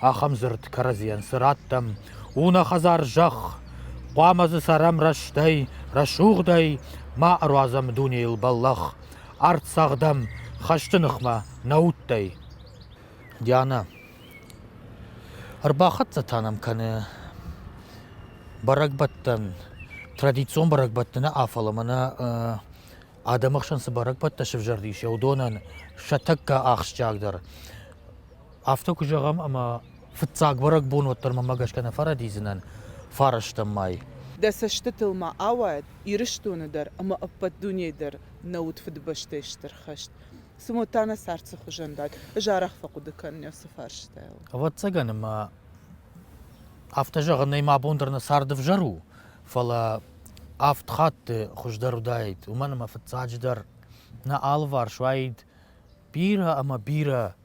ахӕм дзырд кӕрӕдзийӕн цы раттӕм, у нӕ хӕдзар зӕхх, хъуамӕ дзы цӕрӕм рӕстӕй, рӕсугъдӕй ма ӕруадзӕм дунейыл бӕллӕх, арт цӕгъдӕм хӕсты ныхмӕ нӕ удтӕй. Диана. Ӕрбахӕццӕ та нӕм кӕны бӕрӕгбӕттӕн. Традицион бӕрӕгбӕтты нӕ афал ӕмӕ нӕ адӕмы хсӕн цы бӕрӕгбӕттӕ сӕвзӕрдис, уыдонӕн сӕ тӕккӕ ахсджиагдӕр Афтӕ куы зӕгъӕм, ӕмӕ фыццаг бӕрӕгбон уӕддӕр мӕмӕ гӕсгӕ нӕ фӕрӕдидзынӕн фарӕстӕм мӕй. Дӕ цӕстытыл ма ауайӕд, Ирыстоны дӕр ӕмӕ ӕппӕт дунейы дӕр нӕ уыд Фыдыбӕстӕйы Стыр хӕст. Цымӕ та нӕ цард цы хуызӕн дат? Ӕз арӕх фӕхъуыды кӕнын уыцы фарстайыл. Ӕвӕццӕгӕн ӕмӕ афтӕ зӕгъынӕй мӕ бон дӕр нӕ царды ӕвзӕр у, фӕлӕ авд хатты хуыздӕр уыдаид, уымӕн ӕмӕ фыццаджыдӕр нӕ алыварс уаид бирӕ ӕмӕ бирӕ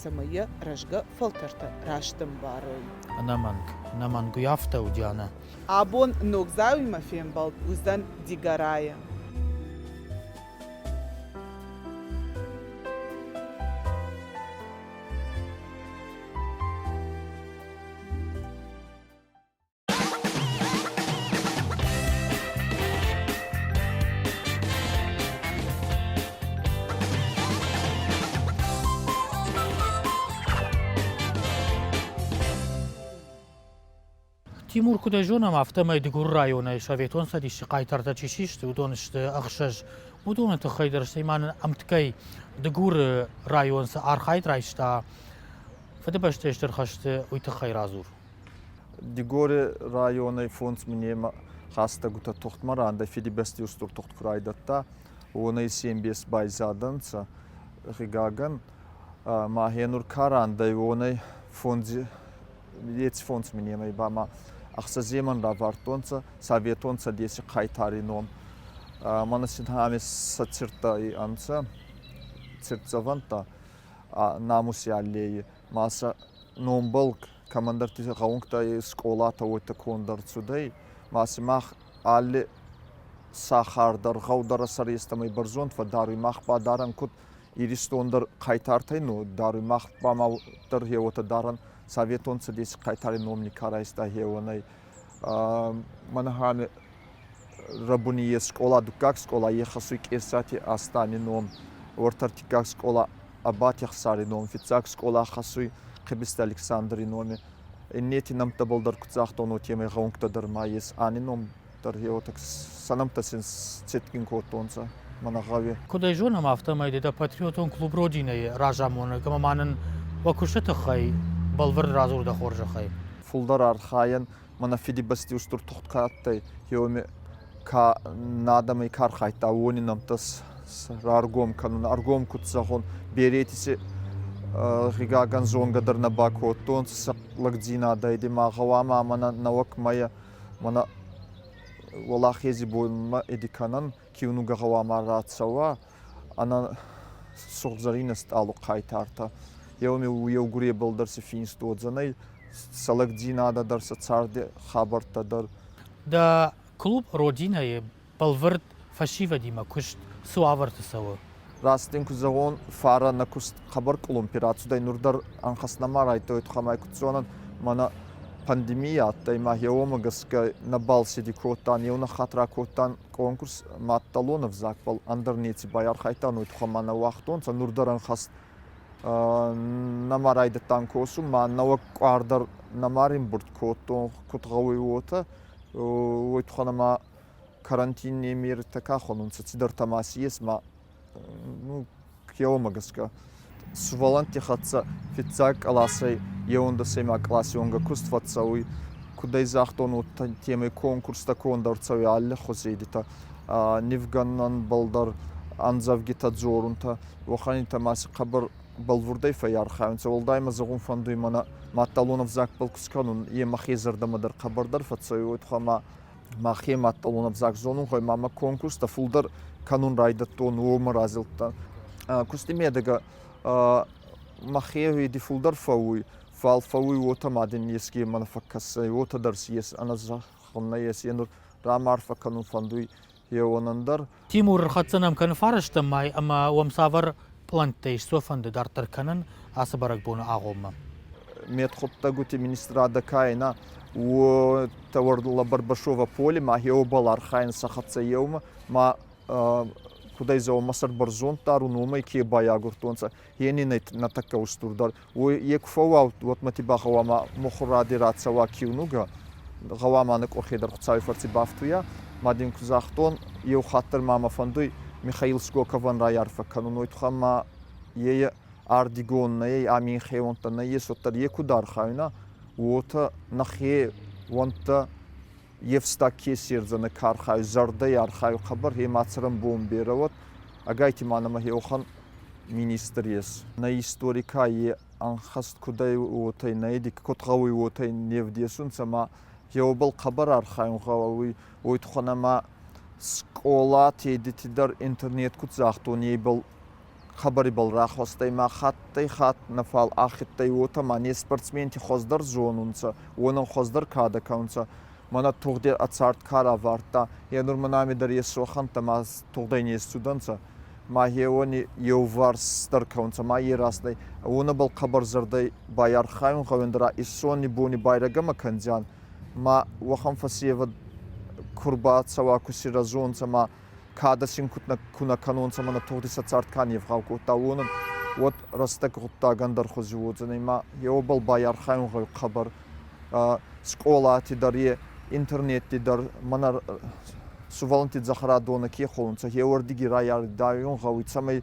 цӕмӕй йӕ рӕзгӕ фӕлтӕртӕ раст ӕмбарой. Ӕнӕмӕнг, ӕнӕмӕнг уый афтӕ у, Дианӕ. Абон Ногдзауимӕ фембӕлд уыдзӕн Дигорайы. Тимур, куыд ӕй зонӕм, афтӕмӕй Дыгуры районӕй Советон Цӕдисы хъайтартӕ чи систы, уыдон сты ӕхсӕз. уыдоны тыххӕй дӕр, стӕй ма нын ӕмткӕй Дыгуры район цы архайд райста, Фыдыбӕстӕйы Стыр хӕсты уый тыххӕй радзур. Дигори районӕй фондз минемӕ хӕстӕгутӕ тухтмӕ рандӕй Фидибӕсти устур тухт ку райдӕдта, уонӕй се мбес байзадӕнцӕ. Гъигагӕн махе нур ка рандӕй, уонӕй фондз, еци фондз минемӕй ба ма ӕхсӕземӕн равардтонцӕ Советон Цӕдеси хъайтари ном. Мӕнӕ син ами сӕ цирттӕ ӕнцӕ, циртдзӕвӕнтӕ Намуси аллейи ма сӕ номбӕл кӕмӕндӕрти гъӕунгтӕй скъолатӕ уотӕ конд ӕрцудӕй, ма сӕмах алли сахар дӕр, гъӕу дӕр сӕрестӕмӕй бӕрзонд фӕддаруй. Мах ба дарӕн куд Иристон дӕр хъайтартӕй, ну даруй. Мах ба ма дӕр еуотӕ дарӕн Советон Цӕдеси хъайтари номи ка райста, еуонӕй. Мӕнӕхӕн рӕбуни ес скъола, дуккаг скъола ехӕсуй Къесати Астани ном, уорта ӕртиккаг скъола Ӕбатехсари ном, фиццаг скъола хӕссуй Къӕбицти Александри номи. Иннети нӕмттӕбӕл дӕр куд загътон, уотемӕй гъӕунгтӕ дӕр ма ес. Ани ном дӕр еуетӕг сӕ нӕмттӕ син сцетгин кодтонцӕ мӕнӕ гъӕуи. Куд ӕй зонӕм, афтӕмӕй дӕ патриотон клуб Родина-йы разамонӕг ӕма ма нын уӕ куысты тыххӕй бӕлвырд радзур дӕ хорзӕхӕй. фулдӕр архайӕн ма нӕ Фидибӕсти устур тугъд ка адтӕй, еуеми ка надӕмӕй ка архайдта, уони нӕмттӕ раргом кӕнун. Ӕргом куд зӕгъон, берети си гъигагӕн зонгӕ дӕр нӕ бакодтонцӕ сӕ лӕгдзийнадӕй. Ди ма гъӕуама мӕнӕ нӕуӕг мӕйӕ мӕнӕ Уӕлахези бонмӕ иди кӕнӕн. киунугӕ гъӕуамӕ рацӕуа ӕнӕ сугъдзарийнӕ стъалук хъайтартӕ. Еугуре балдӕр си финст уодзӕнӕй, сӕлӕгдзийнадӕ дӕр сӕ царды хабӕрттӕ дӕр. Дӕ клуб Родина-йы бӕлвырд фӕсивӕдимӕ куыст цы уавӕрты цӕуы? Раст дин ку зӕгъон, фарӕ нӕ куст хъӕбӕр къулумпи рацудӕй, нур дӕр ӕнхӕст нӕма райдтайуй тухӕмӕй, куд зонӕн, мӕнӕ пандемийӕ адтӕй, ма еуомӕ гӕсгӕ нӕбал циди кодтан, еу нӕххатра кодтан конкурс мадтӕлон ӕвзаг, фал ӕндӕр неци байархайдтануй, тухӕмӕ нӕ уагътонцӕ, нур дӕр ӕнхӕст нӕма райдӕдтан косун, ма нӕуӕг къуар дӕр нӕма римбурд кодтон, куд гъӕуй уотӕ, уой тухӕн ӕма карантинни ами ӕртӕ кӕхон унцӕ, цидӕртӕ ма си ес, ма ну, кеуӕмӕ гӕсгӕ. Сувӕллӕнтти хӕццӕ фиццаг къласӕй еуӕндӕсеймаг къласи уӕнгӕ куст фӕццӕуй. Куд ӕй загътон, уотӕ темӕй конкурстӕ конд ӕрцӕуй алли хузейдитӕ. нивгӕнӕнбӕл дӕр ӕндзӕвгитӕ дзорунцӕ, уӕхӕнитӕ ма си хъӕбӕр бӕлвурдӕй фӕййархайунцӕ. Уӕлдай ма зӕгъун фӕндуй мӕнӕ мадтӕлон ӕвзаг пъол ку скӕнун, е мӕхе зӕрдӕмӕ дӕр хъӕбӕрдӕр фӕццӕуй, уой туххӕй ма мӕхе мадтӕлон ӕвзаг зонунхӕй ма мӕ конкурстӕ фулдӕр кӕнун райдӕдтон, уомӕ разилдтан. Кусти медӕгӕ мӕхе уиди фулдӕр фӕууй, фал фӕууй уотӕ ма дин еске мӕнӕ фӕккӕсай, уотӕ дӕр си ес, ӕнӕ зӕгъун нӕййес, е нур рамарфӕ кӕнун фӕндуй еуанӕн дӕр. Тимур хӕццӕ нӕм кӕны фарӕстӕм май ӕмӕ уӕм цавӕр пълӕнттӕ ис сӕ фӕнды дарддӕр кӕнын ацы бӕрӕгбоны агъоммӕ? Медхъуыддӕгуты министрадӕ каена у товар ла Барбашова поле ма геобал архайын сӕ хӕццӕ еумӕ ма кудӕй дзаума сӕрбӕрзонд дарун, уомӕй ке байагуртонцӕ, е нин нӕ тӕккӕ устурдӕр уой е ку фӕууӕлд, уӕдмӕ ти ба гъӕуама мухуради рацӕуа киунугӕ, гъӕуама ныкъкъохе дӕр Хуцауи фӕрци бафтуйа. Ма дин ку загътон, еу хатт дӕр ма мӕ фӕндуй Михаил Скоковӕн райарфӕ кӕнун, уой туххӕн ма е ардигон нӕй, ами ин хеуӕнттӕ нӕййес, уӕддӕр е ку дӕр архайуна, уотӕ нӕхе уӕнттӕ Евстаг ке седзӕнӕ ка архайы, зӕрдӕй архайы хъӕбӕр, е ма цӕрӕнбон берӕ уӕд. Ӕгайти ма нӕмӕ еухан министр ес. Нӕ истори ка е ӕнхӕст кудӕй, уотӕ нӕ еди куд гъӕуй, уотӕ не вдесунцӕ ӕма еуебӕл хъӕбӕр архайун гъӕуй. Уой туххӕн ӕма скъолати едити дӕр интернет куд загътон, ебӕл Хабарибӕл рахуӕстӕй ма хаттӕй-хатт нӕ фал ахедтӕй, уотӕ ма не спортсменти хуӕздӕр зонунцӕ, уонӕн хуӕздӕр кадӕ ка унцӕ. Мӕнӕ тугъдӕр ӕ цард ка равардта, е нур мӕ нӕми дӕр ес сохӕнттӕ ма тугъдӕй не исцудӕнцӕ. Ма е уони еуварсдӕр ка унцӕ, ма е рӕстӕй. Уонӕбӕл хъӕбӕр зӕрдӕй байархайун гъӕундӕра исцони бони байрагӕмӕ кӕндзиан. Ма уӕхӕн фӕсевӕд ку рбацӕуа, ку си рӕзонцӕ, ма кӕд син ку нӕ кӕнонцӕ ӕма нӕ тугъди сӕ цард ка не'вгъау кодта, уонӕн, уӕд рӕстӕг гъуддагӕн дӕр хузи уодзӕнӕй ма е уобӕл байархайунгӕй хъӕбӕр скъолати дӕр, е интернетти дӕр мӕнӕ сувӕллӕнтти дзӕхӕрадонӕ ке хонунцӕ, е уордиги райард гъӕуй, цӕмӕй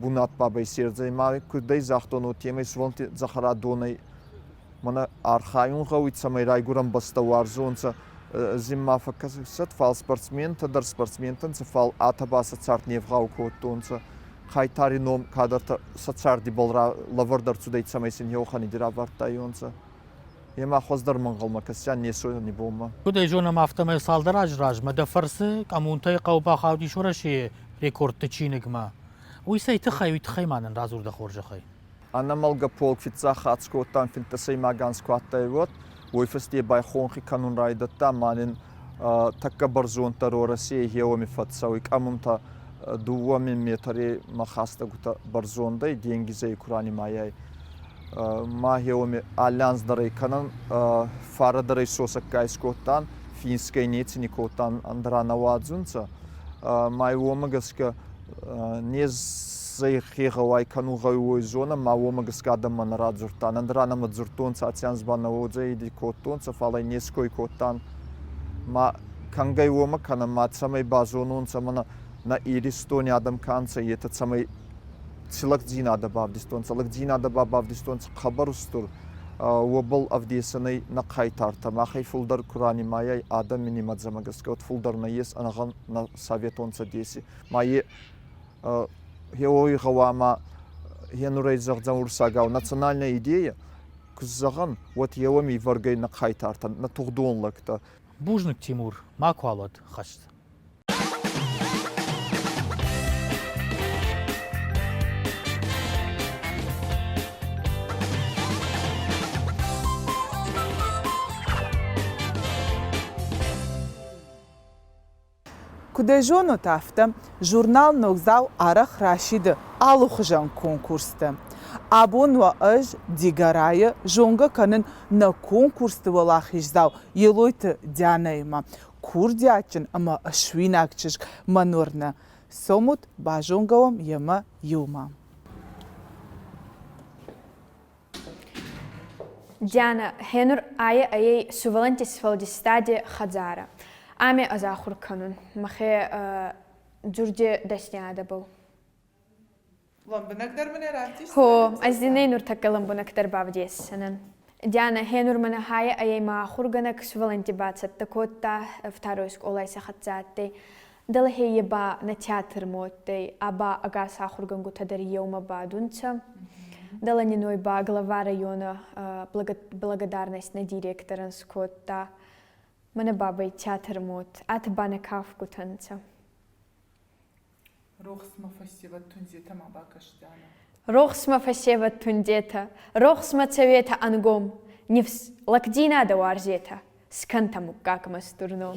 бунат бабӕй сердзӕй ма куддӕй загътон уотемӕй суонти дзӕхӕрадонӕй мӕнӕ архайун гъӕуй цӕмӕй райгурӕн бӕстӕ уарзонцӕ зин ма фӕккӕсӕд фал спортсментӕ дӕр спортсментӕнцӕ фал атӕ ба сӕ цард не вгъау кодтонцӕ хайтари ном кадӕртӕ сӕ царди бӕл лӕвӕрд ӕрцудӕй цӕмӕй син еуӕхӕни равардтайонцӕ Йемӕ хуыздӕр мӕнгъӕлмӕ кӕсӕн не сойони бонмӕ. Куд ӕй зонӕм, афтӕмӕй цалдӕр азы размӕ дӕ фӕрцы Къӕмунтӕй хъӕу бахаудис Уӕрӕсейы рекордты чиныгмӕ. Уый цӕй тыххӕй, уый тыххӕй ма нын радзур дӕ хорзӕхӕй. Ӕнӕмӕлгӕ полк фиццахатт скодтан финддӕсӕймаг анз ку адтӕй, уӕд. Уой фӕсте ба хонхи кӕнун райдӕдта ма нин тӕккӕ бӕрзонддӕр Уӕрӕсей гъеуӕми фӕццӕуй Къӕмунтӕ. Дууӕ мин метрей ма хӕстӕгутӕ бӕрзондӕй денгизӕй ку ранимайай, ма еуеми аллянздӕрӕй кӕнӕн фарадӕрӕй сосӕгка искодтан, финсгӕй неци ни кодтан, ӕндӕра нӕ уадзунцӕ. Ма уомӕ гӕсгӕ незӕй хе гъӕуай кӕнун гъӕуй уой зонӕн, ма уомӕ гӕсгӕ адӕммӕ нӕ радзурдтан, ӕндӕра нӕмӕ дзурдтонцӕ Ацянсбӕл нӕ уодзӕиди кодтонцӕ, фал ӕй не ской кодтан. Ма кӕнгӕй уомӕ кӕнӕн, ма цӕмӕй базононцӕ мӕнӕ нӕ Иристони адӕм ка нцӕ, етӕ цӕмӕй Ци лӕгдзийнадӕ бавдистонцӕ? Лӕгдзийнадӕ ба бавдистонцӕ хъӕбӕр устур, уобӕл ӕвдесӕнӕй нӕ хъайтартӕ. Махӕй фулдӕр ку ранимайай адӕми нимӕдзӕмӕ гӕсгӕ, уӕд фулдӕр нӕййес ӕнӕгъӕн нӕ советон Цӕдеси. Ма е еуой гъӕуама е нурӕй зӕгъдзӕн урсагау национальнӕ идейӕ. Куд зӕгъӕн, уӕд еуӕми ивӕргӕй нӕ хъайтартӕн, нӕ тугъдон лӕгтӕ. Бузныг, Тимур, макуал уӕд хӕст. Куыд ӕй зонут, афтӕ журнал Ногдзау арӕх расиды алыхуызӕн конкурстӕ. Абон уӕ ӕз Дигорайы зонгӕ кӕнын нӕ конкурсты уӕлахиздзау Елойты Дианӕимӕ. курдиатджын ӕмӕ суинаг чызг Манорнӕ, цомут, базонгӕ уӕм йемӕ иумӕ. Диана, гьенур ӕй сувӕллӕнтти сфӕлдистади хӕдзарӕ ами ӕзахур кӕнун мӕхе дзурди дӕсниадӕбӕл. Хо, азинӕй нуртӕккӕ лӕмбунӕгдӕр бавдесдзӕнӕн. Диана, гьенур мӕнӕ хайӕ ӕй ма ахургӕнӕг сувӕллӕнтти бацӕттӕ кодта второй скъолай сӕ хӕццӕ адтӕй. Дӕлхе е ба нӕ театр мо адтӕй, ӕ ба ӕгас ахургӕнгутӕ дӕр еумӕ бадунцӕ. Дӕлӕ нин уой ба глава районы благодарность нӕ директорӕн скодта. Мӕнӕ бабӕй театр мод, ӕтӕ ба нӕ кафгутӕ нцӕ. Рохсмӕ фӕсевӕдтундзетӕ ма бакӕсдӕнӕ. Рохсмӕ фӕсевӕдтундзетӕ, рохсмӕ цӕветӕ ӕнгом, нифс лӕгдзийнадӕ уарзетӕ, скӕнтӕ муггагмӕ стур ном.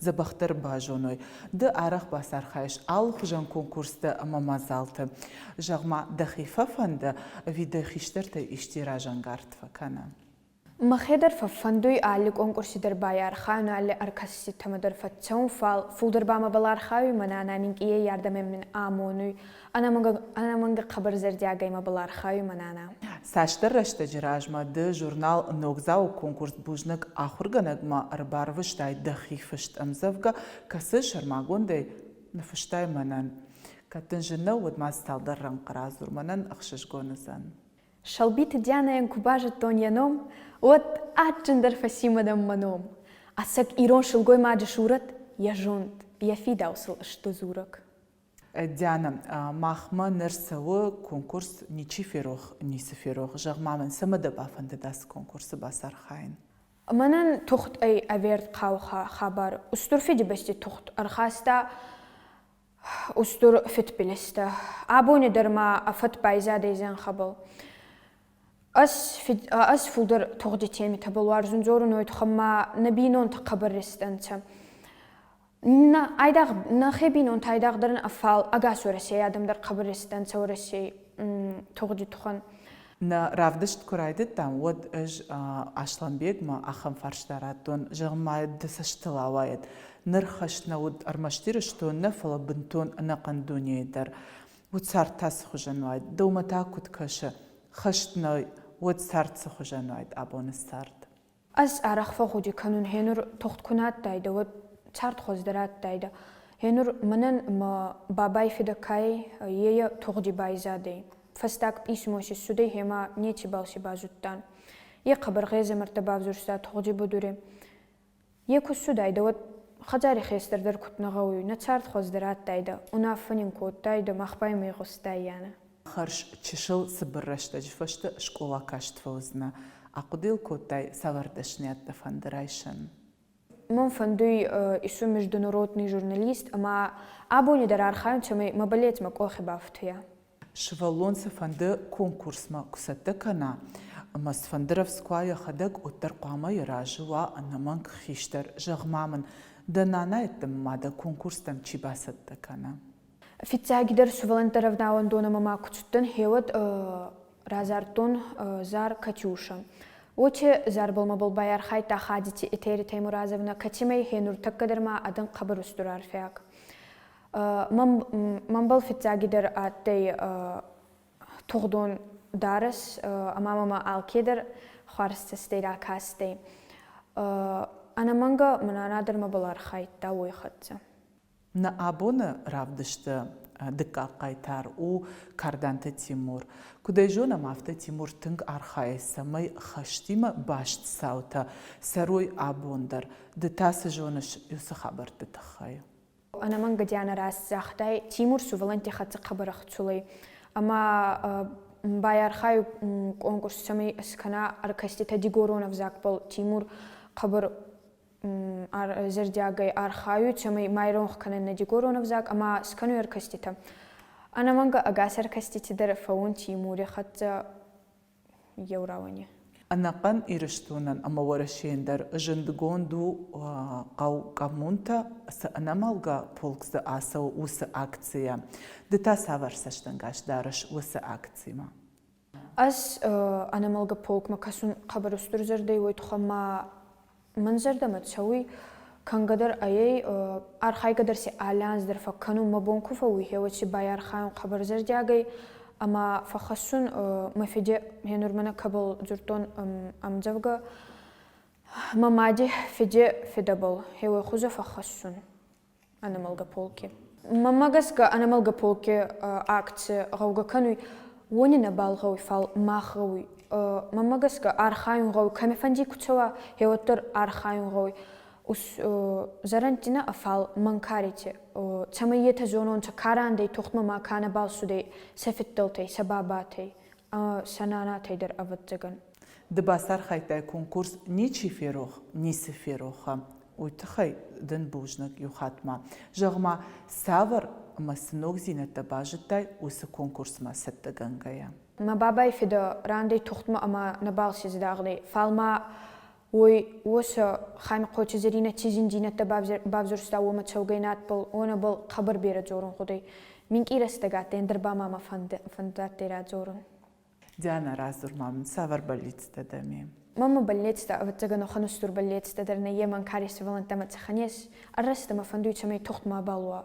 дзӕбӕхдӕр базоной. Ды арӕх бацархайыс алыхуызӕн конкурсты ӕмӕ мадзалты. Зӕгъ-ма, дӕхи фӕфӕнды, ӕви дӕ хистӕртӕй исчи разӕнгард фӕкӕна? Мӕхе дӕр фӕфӕндуй алли конкурси дӕр байархайун, алли ӕркӕсистемӕ дӕр фӕццӕун, фал, фулдӕр ба мӕбӕл архайуй, мӕнӕ ӕнӕ минкъийӕй ардӕмӕ мин амонуй. ӕнӕмӕнг хъӕбӕр зӕрдиагӕй мӕбыл архайы мӕнӕ Цасдӕр рӕстӕджы размӕ ды журнал Ногдзау-ы конкурс бузныг ахуыргӕнӕгмӕ ӕрбарвыстай дӕхи фыст ӕмдзӕвгӕ, кӕцы сӕрмагондӕй ныфыстай мӕнӕн. Кӕд дын зын нӕу, уӕд ма цалдӕр рӕнхъ радзур, мӕнӕн ӕхсызгон уыдзӕн. Сӕлбиты Дианӕйӕн куы базыдтон йӕ ном, уӕд адджындӕр фӕци мӕнӕн мӕ ном. Ӕцӕг ирон сылгоймаджы сурӕт, йӕ зонд, йӕ фидауцыл сты дзурӕг. Диана, махмӕ ныр цӕуы конкурс Ничи ферох, ницы ферох. Зӕгъ-ма мын, цӕмӕ дӕ бафӕндыд ацы конкурсы бацархайын? Мӕнӕн тухтӕй ӕвӕрд хъауха хабар Устур Фидибӕсти тухт ӕрхаста устур фидбилизтӕ. Абони дӕр ма ӕ фӕд байзадӕй зӕнхӕбӕл. Ӕз фулдӕр тугъди темитӕбӕл уарзун дзорунӕй тухӕн ма нӕ бийнонтӕ хъӕбӕр рестӕнцӕ. нӕхе бийнонтӕ айдагъдӕр фал ӕгас Уӕрӕсей адӕмдӕр хъӕбӕр естӕнцӕ Уӕрӕсей тугъди тухӕн. Нӕ равдыст куы райдыдтам, уӕд ӕз Аслӕнбегмӕ ахӕм фарста радтон, зӕгъын ма ды цӕстыл ауайӕд, ныр хӕст нӕ уыд ӕрмӕст Ирыстон нӕ, фӕлӕ бынтон ӕнӕхъӕн дунейы дӕр. Уд цард та цыхуызӕн уайд, дӕумӕ та куыд кӕсы, хӕст нӕ уӕд цард цыхуызӕн уайд абоны цард? Ӕз арӕх фӕгъуди кӕнун, гьенур тугъд ку нӕ адтайдӕ, уӕд цардхуз дӕр адтайдӕ. Гьенур мӕнӕн мӕ бабай фидӕ ка ӕй, е тугъди байзадӕй. Фӕстаг пъисмо си ссудӕй, гьема нецибал си базудтан. Е хъӕбӕр гъезӕмӕрттӕ бавзурста тугъди будури. Е ку ссудайдӕ, уӕд хӕдзари хестӕр дӕр куд нӕ гъӕуй, нӕ цардхуз дӕр адтайдӕ, унаффӕ нин кодтайдӕ мах ба имӕ игъустаййанӕ. Хӕрз чысыл цыбыр рӕстӕджы фӕстӕ скъола каст фӕуыдзынӕ, ахъуыды йыл кодтай цавӕр дӕсныйӕдтӕ фӕнды райсын? Мӕн фӕнды ису международный журналист ӕмӕ абони дӕр архайын, цӕмӕй мӕ мӕлӕтмӕ къохи бафтуя. Сывӕллон цыфӕнды конкурсмӕ куы цӕттӕ кӕна ӕмӕ цыфӕнды рӕвдзкуа йӕхӕдӕг уӕддӕр хъуамӕ йӕ разы уа ӕнӕмӕнг хистӕр. Зӕгъ-ма мын, дӕ нанайӕддӕмӕ ма дӕ конкурстӕм чи бацӕттӕ кӕна? Фиццагидӕр сувӕллӕнттӕ рӕвдауӕндон ӕма ма куд цудтӕн, хеуӕд радзардтон зар Катюшӕ. Уоти зарбӕлмӕбӕл байархайдта Хадити Етери Таймуразовнӕ, кӕцимӕй хе нуртӕккӕ дӕр ма адӕн хъӕбӕр устур арфиаг. Мӕнбӕл фиццагидӕр адтӕй тугъдон дарӕс, ӕма мӕмӕ алкедӕр хуӕрзцӕстӕй ракастӕй. Ӕнӕмӕнгӕ мӕн анадӕр мӕбӕл архайдта уой хӕццӕ. Нӕ абоны равдысты дыккаг хъайтар у Карданты Тимур. Куыд ӕй зонӕм, афтӕ Тимур тынг архайы, цӕмӕй хӕстимӕ баст цаутӕ цӕрой абон дӕр. Ды та цы зоныс уыцы хабӕртты тыххӕй? Ӕнӕмӕнг Дианӕ раст загътай, Тимур сувӕллӕнтти хӕццӕ хъӕбӕрӕх цулӕй. Ӕма байархайуй конкурс, цӕмӕй скӕна ӕркӕститӕ дигорон ӕвзагбӕл. Тимур хъӕбӕр зӕрдиагӕй архайут, цӕмӕй ма иронх кӕнын нӕ дигорон ӕвзаг ӕмӕ скӕной ӕркӕститӕ. Ӕнӕмӕнгӕ ӕгас ӕркӕстити дӕр фӕуун Тимури хӕццӕ еу рауӕни. Ӕнӕхъӕн Ирыстонӕн ӕмӕ Уӕрӕсейӕн дӕр зындгонд у хъӕу Къӕмунтӕ, цы ӕнӕмӕлгӕ полк дзы ацӕуы, уыцы акцийӕ. Ды та цавӕр цӕстӕнгас дарыс уыцы акцимӕ? Ӕз ӕнӕмӕлгӕ полкмӕ кӕсун хъӕбӕр устур зӕрдӕй, уой туххӕн ма мӕн зӕрдӕмӕ цӕуй, кӕнгӕдӕр ӕй, архайгӕ дӕр си алӕанз дӕр фӕккӕнун, мӕ бон ку фӕууй хеуӕд си байархайун хъӕбӕр зӕрдиагӕй ӕма фӕххӕссун мӕ фиде ме нурмӕнӕ кӕбӕл дзурдтон ӕмдзӕвгӕ Мӕ мади фиде федӕбӕл, хеуӕй хузӕ фӕххӕссун. ӕнӕмӕлгӕ полки. Мӕммӕ гӕсгӕ ӕнӕмӕлгӕ полки акци гъӕугӕ кӕнуй, уони нӕбал гъӕуй, фал мах гъӕуй. Мӕммӕ гӕсгӕ архайун гъӕуй, кӕмифӕнди ку цӕуа, еуӕддӕр архайун гъӕуй зӕрӕндтинӕ, фал мӕнкарити, цӕмӕй етӕ зононцӕ, ка рандӕй тухтмӕ ма ка нӕбал цудӕй, сӕ фиддӕлтӕй, сӕ бабатӕй, сӕ нанатӕй дӕр, ӕвӕддзагӕн. Ды бацархайдтай конкурс Ничи ферох, ницы фероха. Уый тыххӕй дын бузныг иу хатт-ма. Зӕгъ-ма, цавӕр ӕмӕ цы ногдзинӕдтӕ базыдтай уыцы конкурсмӕ цӕттӕгӕнгӕйӕ? Мӕ бабай фидӕ рандӕй тугъдмӕ ӕма нӕ балци зӕдагъдӕй, фал ма уой уосӕ Хӕмицхъойти Зӕринӕ ци зиндзийнӕдтӕ бавзурста, уомӕ цӕугӕй надбӕл, уонӕбӕл хъӕбӕр берӕ дзорун гъудӕй. Минкъий рӕстӕг адтӕй, ӕндӕр ба ма мӕ фӕндадтӕй радзорун. Диана, радзур-ма мын, цавӕр бӕллицтӕ дӕ ме? Мамы бӕллицтӕ, ӕвӕццӕгӕн, охын ӕстур бӕллецтӕ дӕр нӕй, йе мӕнкари цӕвӕллӕнттӕ мӕ цъӕхӕ не сс, ӕррӕст ӕмӕ фӕндуй, цӕмӕй тугъд мабал уа,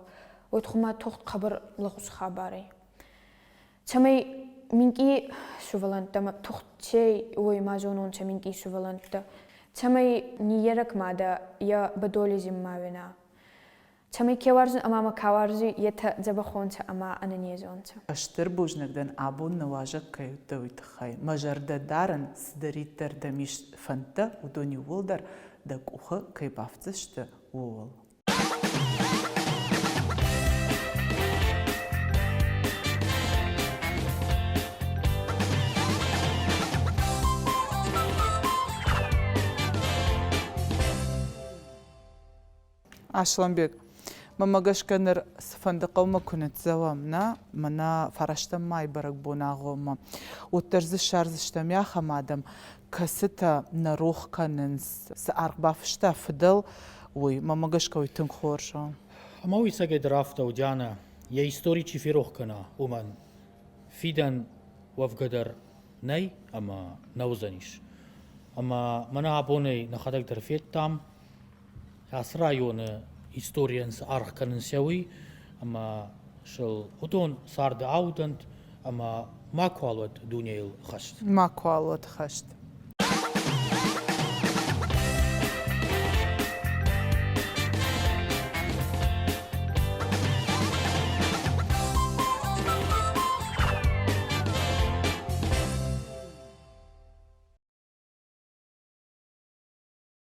уӕд хумӕ тугъд хъӕбӕр лӕгъуз хабар ӕй. Цӕмӕй минкъий сувӕллӕнттӕ ӕма тухт ке уой, ма зононцӕ минкъий сувӕллӕнттӕ, цӕмӕй ниййерӕг мадӕ е бӕдоли зин ма уина. Кӕми ке уарзун ӕма ма ка уарзи, етӕ дзӕбӕхонтӕ ӕма ӕнӕнезонтӕ. Стыр бузныг дӕн, абон нуазӕг кӕй уыдтӕ, уый тыххӕй. Мӕ зӕрдӕ дарын, цыдӕриддӕр дӕм ис фӕндтӕ, уыдон иууылдӕр дӕ къухы кӕй бафтдзысты, ууыл. Аслӕнбег, мӕмӕ гӕсгӕ ныр цыфӕнды хъӕумӕ куы ныццӕуӕм, нӕ? Мӕнӕ фӕрӕзтӕн мӕй бӕрӕгбон агъоммӕ. Уӕддӕр дзы ссардзыстӕм ахӕм адӕм, кӕцытӕ нӕ рох кӕнынц, цы аргъ бафыста фыдӕл, уый. Мӕмӕ гӕсгӕ уый тынг хорз у. Ӕмӕ уый сагӕй дӕр афтӕ у, Дианӕ, йӕ истори чи ферох кӕна, уымӕн. Фидӕн уӕвгӕ дӕр нӕй ӕмӕ нӕ уыдзӕнис. Ӕмӕ мӕнӕ абонӕй нӕхӕдӕг дӕр федтам, Ацы районы историйӕн цы аргъ кӕнын цӕуы, ӕмӕ сыл уыдон царды аудӕнт ӕмӕ макуал уӕт дунейыл хӕст. Макуал уӕт хӕст.